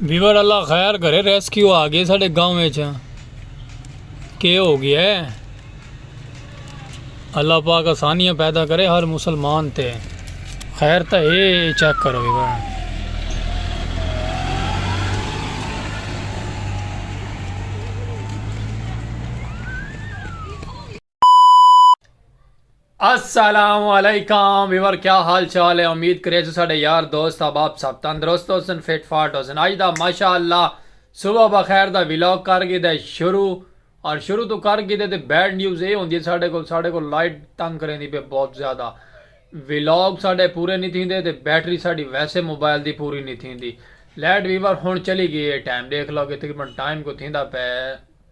Viewer اللہ خیر کرے ریسکیو آ گئے ساڈے گاؤں وچ کے ہو گیا ہے اللہ پاک آسانیاں پیدا کرے ہر مسلمان تے خیر تا ہے چیک کرو ویور السلام علیکم ویور کیا حال چال ہے امید کرے جو ساڑے یار دوست احباب سب تندرست ہو سن فٹ فاٹ ہو سن آج دا ماشاء اللہ صبح بخیر دا ویلوگ کر گئے دے شروع اور شروع تو کر گئے دے تے بیڈ نیوز اے ہوندی ہے ساڑے کو ساڑے کو لائٹ تنگ کریں دی پہ بہت زیادہ ویلوگ ساڑے پورے نہیں تھیں دے تے بیٹری ساڑی ویسے موبائل دی پوری نہیں تھیں دی لائٹ ویور ہون چلی گئی ہے ٹائم دیکھ لو کہ تقریبا ٹائم کو تھیں دا پہ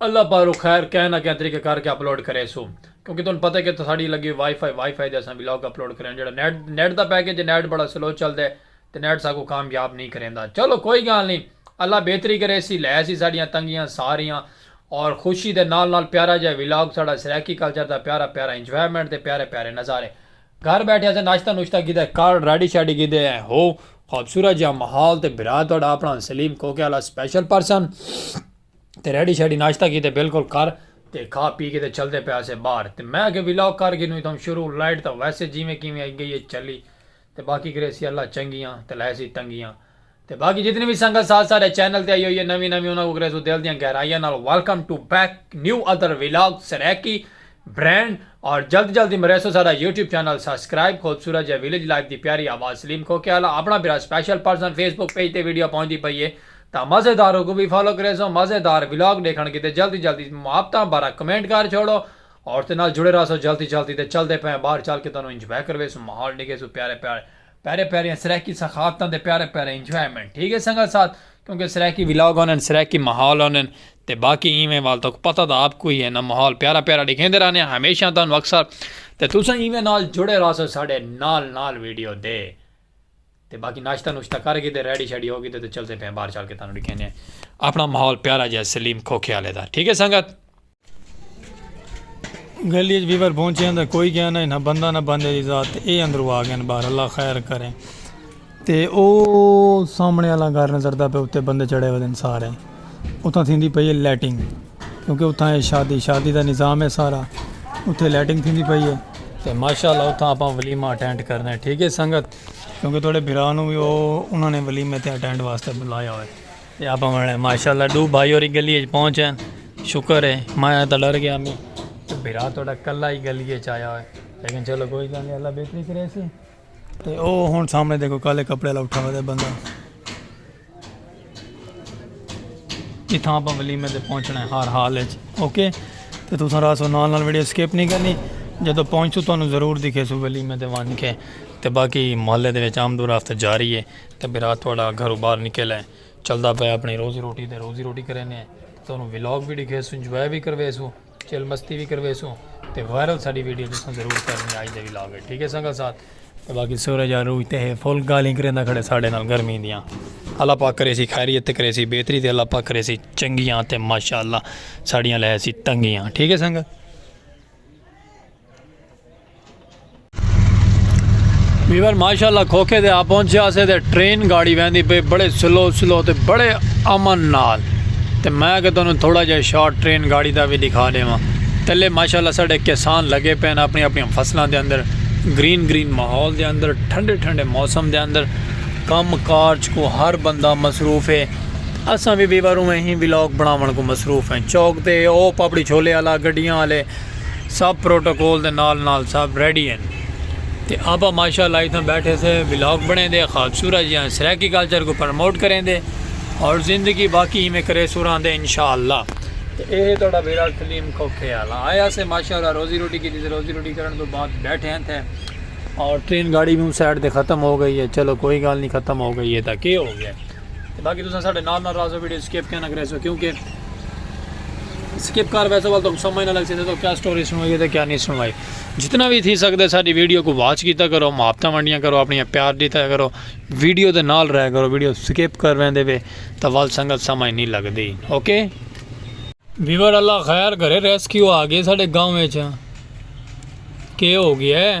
اللہ پاروں خیر کہیں نہ کہیں طریقے کر کے اپلوڈ کریسوں کیونکہ تہن پتہ ہے کہ ساڑی لگی ہوئی وائی فائی وائی فائی دے اساں ولاگ اپلوڈ کریں جڑا نیٹ نیٹ دا پیکج ہے نیٹ بڑا سلو چل دے تے نیٹ ساکوں کامیاب نہیں کریندا چلو کوئی گال نہیں اللہ بہتری کریسی لے سی ساڑیاں تنگیاں ساریاں اور خوشی دے نال نال پیارا جیہا ولاگ ساڑا سرائیکی کلچر دا پیارا پیارا انجوائمنٹ دے پیارے پیارے نظارے گھر بیٹھے اساں ناشتہ نوشتہ کیتے کارڈ ریڈی شیڈی کیتے ہیں ہو خوبصورت جیہاں محال تے بھرا تہاڈا اپنا سلیم کوکے آلا سپیشل پرسن تے ریڈی شیڈی ناشتہ کیتے بالکل کر تے کھا پی کے تے چلدے پئے اسے باہر تے میں آکھیا ولاگ کر گھنوں اتھاں شروع لائٹ تاں ویسے جیویں کیویں آئی گئی ہے چلی تے باقی کریسی اللہ چنگیاں تے لہیسی تنگیاں تے باقی جتنی وی سنگت ساتھ ساڈے چینل تے آئی ہوئی ہے نویں نویں انہاں کوں کرے سوں دل دیاں گہرائیاں نال welcome to back new other vlog Saraiki brand اور جلد جلد ہی مریسوں ساڈا یوٹیوب چینل سبسکرائب خوبصورت جے ولیج لائف دی پیاری آواز سلیم کھوکھے آلا اپنا بھرا special person Facebook page تے ویڈیو پہنچدی پئی ہے تاں مزیدار اوکوں وی فالو کریسوں مزیدار ولاگ ڈیکھن کیتے جلد ہی جلد محبتاں بھرا کمنٹ کر چھوڑو اور تے نال جڑے رہسوں جلد ہی جلد ہی تے چلدے پئے آں باہر چل کے تہانوں انجوائے کرویسوں ماحول ڈیکھیسوں پیارے پیارے پیارے پیاریاں سرائیکی ثقافتاں دے پیارے پیارے انجوائمنٹ ٹھیک ہے سنگت ساتھ کیونکہ سرائیکی ولاگ ہونن سرائیکی ماحول ہونن تے باقی ایویں وال تک پتہ تھا آپ کو ہی ہے نا ماحول پیارا پیارا ڈکھیں دے رہنے ہمیشہ تھا انو اکثر تے تو سن ایویں نال جڑے رہا سو ساڑے نال نال ویڈیو دے تے باقی ناشتہ نوشتہ کر گی تے ریڈی شیڈی ہو گی تے چلتے پہ بار چل کے تھا انو ڈکھیں دے اپنا ماحول پیارا جائے سلیم کھوکھے آلے دا ٹھیک ہے سنگت گلی اچ بیور پہنچیاں تاں کوئی کیا نہ نہ بندہ نہ بندے دی ذات تے اے اندرو آ گئن بار اللہ خیر کریں تے او سامنے اللہ گھر نظر دا پہ اتے بندے چڑھے ہوئے دن سارے اتھاں تھیں دی پئیے لیٹنگ کیونکہ اتھاں اے شادی شادی دا نظام ہے سارا اتھے لیٹنگ تھیں دی پئیے تے ماشاءاللہ اتھاں اپاں ولیمہ اٹینڈ کرنے ٹھیک ہے سنگت کیونکہ توڑے بھرانوں بھی او انہوں نے ولیمہ تے اٹینڈ واسطے بلایا ہوئے یا پاونے ماشاءاللہ ڈو بھائی اوری گلی اچ پہنچ ہیں شکر ہے میں آیا تھا ڈر گیا میں بھرا تھوڑا کلا ہی گلی اچ آیا ہوئے لیکن چلو کوئی گل نہیں اللہ بہتری کرے سی تے او ہن سامنے دیکھو کالے کپڑے والا اٹھا ہوئے بندہ اتھاں اپا ولیمے تے پہنچنا ہے ہر حال اچ اوکے تے تساں راسو نال نال ویڈیو سکپ نہیں کرنی جدو پہنچو تانوں ضرور دکھے سو ولیمے تے وان کے تے باقی محلے دے وچ آمد و رفت جاری ہے تے برا تہاڈا گھرو باہر نکل اے چلدا پئے اپنی روزی روٹی تے روزی روٹی کرینے اے تے تہانوں ولاگ وی ڈکھیسوں انجوائے وی کرویسوں چل مستی وی کرویسوں تے وائرل ساڈی ویڈیو تساں ضرور کرنی اج دے ولاگ اچ ٹھیک اے سنگت ساتھ تے باقی سورج عروج تے ہے فل گالھیں کریندا کھڑے ساڈے نال گرمی دیاں اللہ پاک کریسی خیریت تے کریسی بہتری تے اللہ پاک کریسی چنگیاں تے ماشاءاللہ ساڈیاں لہیسی تنگیاں ٹھیک اے سنگت ویور ماشاءاللہ کھوکھے دے آ پہنچے آسے تے ٹرین گاڑی ویندی پہ بڑے سلو سلو تے بڑے امن نال تے میں کہ تنہوں تھوڑا جا شارٹ ٹرین گاڑی دا بھی دکھا دے ماں تلے ماشاءاللہ ساڑے کسان لگے پہن اپنی اپنی فصلہ دے اندر گرین گرین محول دے اندر ٹھنڈے ٹھنڈے موسم دے اندر کم کارج کو ہر بندہ مصروف ہے اساں بھی ویور ہوئے ہی ویلوگ بناون کو مصروف ہیں چوک دے او پاپڑی چھولے آلا گڑیاں آلے سب پروٹوکول دے نال نال سب ریڈی ہن تے آپا ماشاءاللہ اتھاں بیٹھے سے ولاگ بنیندے خوابصورت جیاں سرائیکی کلچر کو پرموٹ کریندے اور زندگی باقی ہی میں کرے سوراں دے انشاءاللہ تے اے ہے توڑا ویرا کلیم کھوکھے آلا آیا سے ماشاءاللہ روزی روٹی کی دیتے روزی روٹی کرن تو بعد بیٹھے ہیں تھے اور ٹرین گاڑی بھی سائڈ دے ختم ہو گئی ہے چلو کوئی گال نہیں ختم ہو گئی ہے تا کی ہو گیا ہے تے باقی تساں ساڈے نال نال راہسو ویڈیو سکپ کیوں نہ کریسو کیونکہ سکپ کر ویسو ول تو سمجھ نہ لگ سکتے تو کیا سٹوری سنوائی تے کیا نہیں سنوائی جتنا بھی تھی سکدے ساڈی ویڈیو کو واچ کیتا کرو محبتہ ونڈیاں کرو اپنی پیار دیتا کرو ویڈیو دے نال رہ کرو ویڈیو سکپ کر ویندے وے تو ول سنگت سمجھ نہیں لگدی اوکے ویور اللہ خیر کرے ریسکیو آ گئے ساڈے گاؤں وچ کے ہو گیا ہے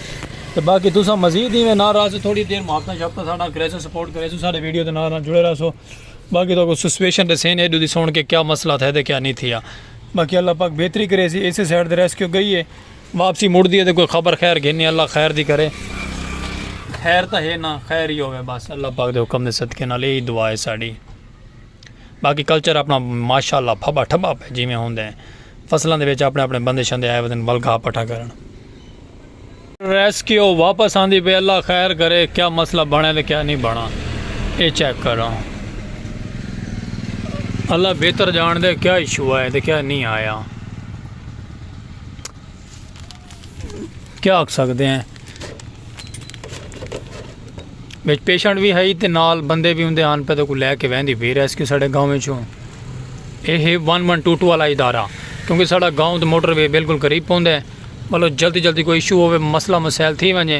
تے باقی تساں مزید ایویں نال راہسو تھوڑی دیر محبتاں شبتاں ساڈے نال کریسو سپورٹ کریسو ساڈے ویڈیو دے نال نال جڑے راہسو باقی تہاکوں سچویشن ڈسین ایڈو دی سن کے کیا مسئلہ تھئے تے کیا نی تھیا باقی اللہ پاک بہتری کریسی اسے سائیڈ تے ریسکیو گئی ہے واپسی مڑدی ہے تے کوئی خبر خیر گھنی اللہ خیر دی کرے خیر تاں ہے نا خیر ہی ہووے بس اللہ پاک دے حکم دے صدقے نال ایہی دعا ہے ساڈی۔ باقی کلچر اپنا ماشاء اللہ پھبا ٹھبا پہ جیویں ہوندے ہیں فصلاں دے وچ اپنے اپنے بندے شندے آئے ودن ول گھا پٹھا کرن۔ ریسکیو واپس آندی پئی اللہ خیر کرے کیا مسئلہ بنڑے تے کیا نی بنڑا اے چیک کراں اللہ بہتر جانڑدے کیا ایشو آئے تے کیا نی آیا۔ کیا آکھ سکدے ہیں وچ پیشنٹ بھی ہے تے نال بندے بھی ہوندے آن پہ تو کو لے کے ویندی پی ریسکیو ساڈے گاؤں وچ ہوں اے ہے 1122 والا ادارہ کیونکہ ساڈا گاؤں تے موٹر وے بالکل قریب پوندا ہے مطلب جلدی جلدی کوئی ایشو ہوے مسئلہ مسائل تھی ونجے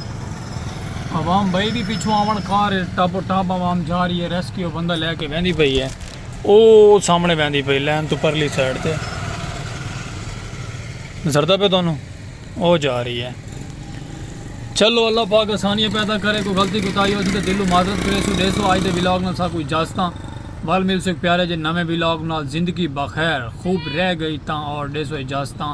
عوام بھائی بھی پچھو آون کار ٹاپ ٹاپ عوام جا رہی ہے ریسکیو بندہ لے کے ویندی پئی ہے او سامنے ویندی پئی لین تو پرلی سائیڈ تے زردہ پہ دونوں او جا رہی ہے چلو اللہ پاک آسانیاں پیدا کرے کوئی غلطی کوتا ہی ہو سی تو دلو معذرت کرے سو دے سو آج دے ولاگ نال سا کوئی جاستاں وال مل سو پیارے جے نویں ولاگ نال زندگی بخیر خوب رہ گئی تاں اور دے سو اجازتاں